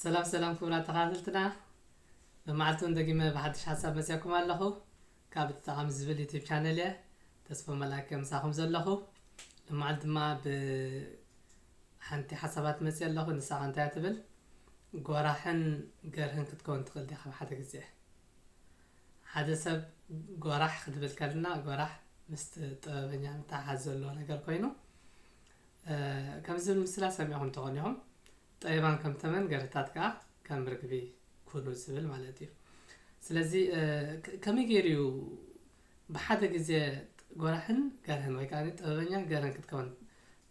ሰላም ሰላም ክቡራት ተኸታተልትና መማዕልቱን ደጊመ ብሓድሽ ሓሳብ መፅያኩም ኣለኹ ካብ ተጠቓሚ ዝብል ዩቲብ ቻነል እየ ተስፎ መላከ ምሳኹም ዘለኹ ልማዓል ድማ ብሓንቲ ሓሳባት መፅእ ኣለኹ ንሳኻ እንታይ ትብል ጎራሕን ገርህን ክትከውን ትኽእል ዲኻ ኣብ ሓደ ግዜ ሓደ ሰብ ጎራሕ ክትብል ከልና ጎራሕ ምስ ጥበበኛ ምትሓሓዝ ዘለዎ ነገር ኮይኑ ከምዚ ዝብል ምስላ ሰሚዕኹም ትኾኑ ኢኹም፣ ጠቢባን ከም ተመን፣ ገርህታት ከኣ ከም ርግቢ ኩኑ ዝብል ማለት እዩ። ስለዚ ከመይ ገይሩ እዩ ብሓደ ግዜ ጎራሕን ገርህን ወይ ከኣ ጥበበኛን ገርህን ክትከውን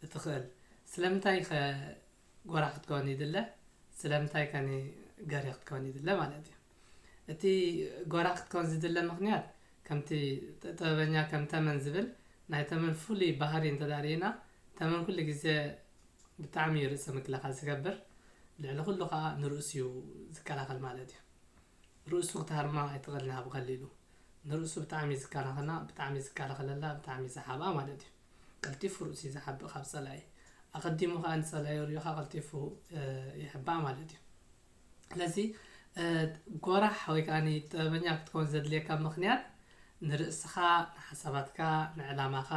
እትኽእል? ስለምንታይ ከ ጎራሕ ክትከውን ይድለ? ስለምንታይ ከ ገርሂ ክትከውን ይድለ ማለት እዩ? እቲ ጎራ ክትከውን ዝድለ ምኽንያት ከምቲ ጥበበኛ ከም ተመን ዝብል ናይ ተመን ፍሉይ ባህሪ እንተድኣ ርኢና ተመን ኩሉ ግዜ ብጣዕሚ እዩ ርእሰ ምክልኻል ዝገብር ልዕሊ ኩሉ ከዓ ንርእሱ እዩ ዝከላኸል ማለት እዩ ርእሱ ክትሃርማ ኣይትኽእልን ኣብ ቀሊሉ ንርእሱ ብጣዕሚ እዩ ዝከናኸና ብጣዕሚ እዩ ዝከላኸለላ ብጣዕሚ እዩ ዝሓብኣ ማለት እዩ ቀልጢፉ ርእሱ እዩ ዝሓብእ ካብ ፀላኢ ኣቐዲሙ ከዓ ንፀላኢ ሪኡ ከዓ ቀልጢፉ ይሕባእ ማለት እዩ ስለዚ ጎራሕ ወይ ከኣ ጥበበኛ ክትከውን ዘድልየካ ምኽንያት ንርእስኻ፣ ንሓሳባትካ፣ ንዕላማኻ፣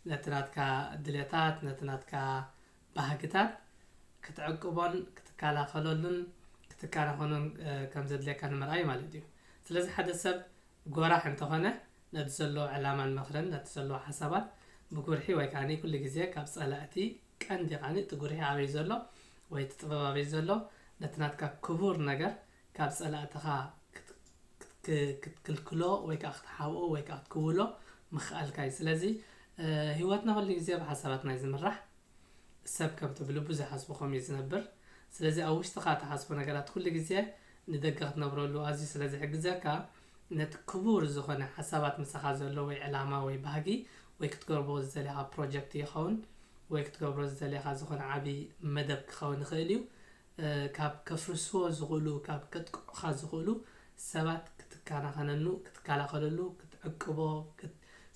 ነቲ ናትካ ድሌታት፣ ነቲ ናትካ ባህግታት ክትዕቅቦን ክትከላኸለሉን ክትከናኸኖን ከም ዘድልየካ ንምርኣይ ማለት እዩ። ስለዚ ሓደ ሰብ ጎራሕ እንተኾነ ነቲ ዘለዎ ዕላማን ምኽርን ነቲ ዘለዎ ሓሳባት ብጉርሒ ወይ ከኣ ኩሉ ግዜ ካብ ጸላእቲ ቀንዲ ቃኒ እቲ ጉርሒ ኣበይ ዘሎ ወይ እቲ ጥበብ ኣበይ ዘሎ ነቲ ናትካ ክቡር ነገር ካብ ጸላእትኻ ክትክልክሎ ወይ ከኣ ክትሓብኦ ወይ ከኣ ክትክውሎ ምኽኣልካ እዩ ስለዚ ሂወትና ኩሉ ግዜ ብሓሳባትና እዩ ዝምራሕ ሰብ ከምቲ ብልቡ ዝሓስቦ ከምኡ እዩ ዝነብር ስለዚ ኣብ ውሽጥኻ ትሓስቦ ነገራት ኩሉ ግዜ ንደገ ክትነብረሉ ኣዝዩ ስለ ዝሕግዘካ ነቲ ክቡር ዝኾነ ሓሳባት ምሳኻ ዘሎ ወይ ዕላማ ወይ ባህጊ ወይ ክትገርቦ ዝደሌኻ ፕሮጀክት ይኸውን ወይ ክትገብሮ ዝደሌኻ ዝኾነ ዓቢ መደብ ክኸውን ይኽእል እዩ ካብ ከፍርስዎ ዝኽእሉ ካብ ከጥቅዑኻ ዝኽእሉ ሰባት ክትካናኸነኑ ክትካላኸለሉ ክትዕቅቦ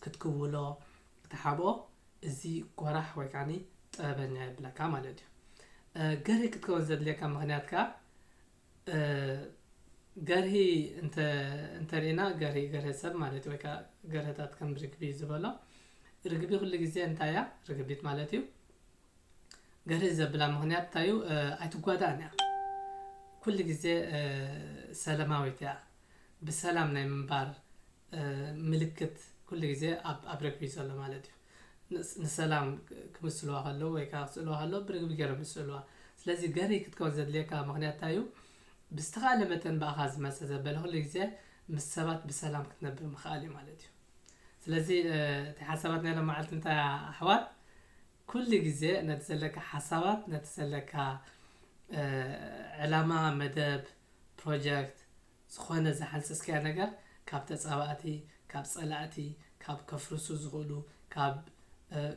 ክትክውሎ ክትሓብኦ እዚ ጎራሕ ወይ ከዓኒ ጥበበኛ የብለካ ማለት እዩ ገሬ ክትከውን ዘድልየካ ምኽንያት ከኣ ገርሂ እንተ እንተሪእና ገርሂ ገርሂ ሰብ ማለት ወይ ከዓ ገርህታት ከም ርግቢ ዝበሎ ርግቢ ኩሉ ግዜ እንታይ እያ ርግቢት ማለት እዩ ገርሂ ዘብላ ምክንያት እንታይ እዩ ኣይትጓዳእን እያ ኩሉ ግዜ ሰላማዊት እያ ብሰላም ናይ ምንባር ምልክት ኩሉ ግዜ ኣብ ኣብ ርግቢ ዘሎ ማለት እዩ ንሰላም ክምስልዋ ከለዉ ወይ ከኣ ክስእልዋ ከለዉ ብርግቢ ገይሮም እዩ ዝስእልዋ። ስለዚ ገርሂ ክትከውን ዘድልየካ ምኽንያት እንታይ እዩ? ብዝተኻእለ መጠን ብኣኻ ዝመጸ ዘበለ ኩሉ ግዜ ምስ ሰባት ብሰላም ክትነብር ምኽኣል እዩ ማለት እዩ። ስለዚ እቲ ሓሳባት ናይ ሎማዓልቲ እንታይ እያ ኣሕዋት ኩሉ ግዜ ነቲ ዘለካ ሓሳባት ነቲ ዘለካ ዕላማ፣ መደብ፣ ፕሮጀክት፣ ዝኾነ ዝሓንጸጽካዮ ነገር ካብ ተጻባእቲ፣ ካብ ጸላእቲ፣ ካብ ከፍርሱ ዝኽእሉ፣ ካብ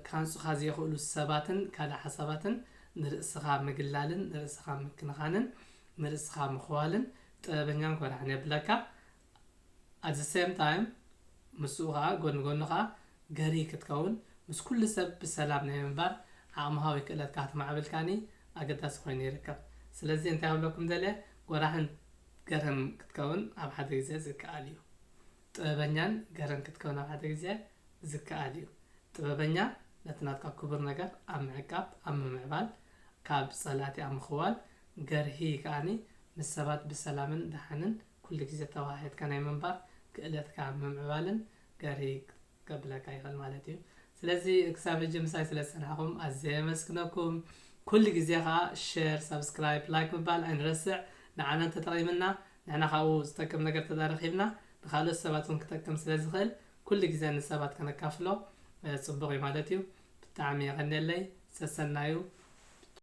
ክሃንጹኻ ዘይኽእሉ ሰባትን ካልእ ሓሳባትን ንርእስኻ ምግላልን ንርእስኻ ምክንኻንን ንርእስኻ ምኽዋልን ጥበበኛን ኮራዕን የብለካ at the same time ምስኡ ከኣ ጎኒ ጎኑ ከኣ ገርሂ ክትከውን ምስ ኩሉ ሰብ ብሰላም ናይ ምንባር ዓቕምኻዊ ክእለትካ ክትማዕብል ከኣኒ ኣገዳሲ ኮይኑ ይርከብ ስለዚ እንታይ ክብለኩም ደልየ ጎራሕን ገረን ክትከውን ኣብ ሓደ ግዜ ዝከኣል እዩ። ጥበበኛን ገረን ክትከውን ኣብ ሓደ ግዜ ዝከኣል እዩ። ጥበበኛ ነቲ ናትካ ክቡር ነገር ኣብ ምዕቃብ፣ ኣብ ምምዕባል፣ ካብ ጸላእቲ ኣብ ምኽዋል፣ ገርሂ ከኣ ምስ ሰባት ብሰላምን ደሓንን ኩሉ ግዜ ተወሃሂድካ ናይ ምንባር ክእለትካ ምምዕባልን ገርሂ ከብለካ ይክእል ማለት እዩ ስለዚ ክሳብ ሕጂ ምሳይ ስለ ዝጸናሕኩም ኣዝየ የመስግነኩም ኩሉ ግዜ ከኣ ሸር ሳብስክራይብ ላይክ ምባል ኣይንረስዕ ንዓና እንተጠቒምና ንሕና ካብኡ ዝጠቅም ነገር ተተረኺብና ንካልኦት ሰባት እውን ክጠቅም ስለ ዝኽእል ኩሉ ግዜ ንሰባት ከነካፍሎ ጽቡቕ እዩ ማለት እዩ ብጣዕሚ የቐኔለይ ሰሰናዩ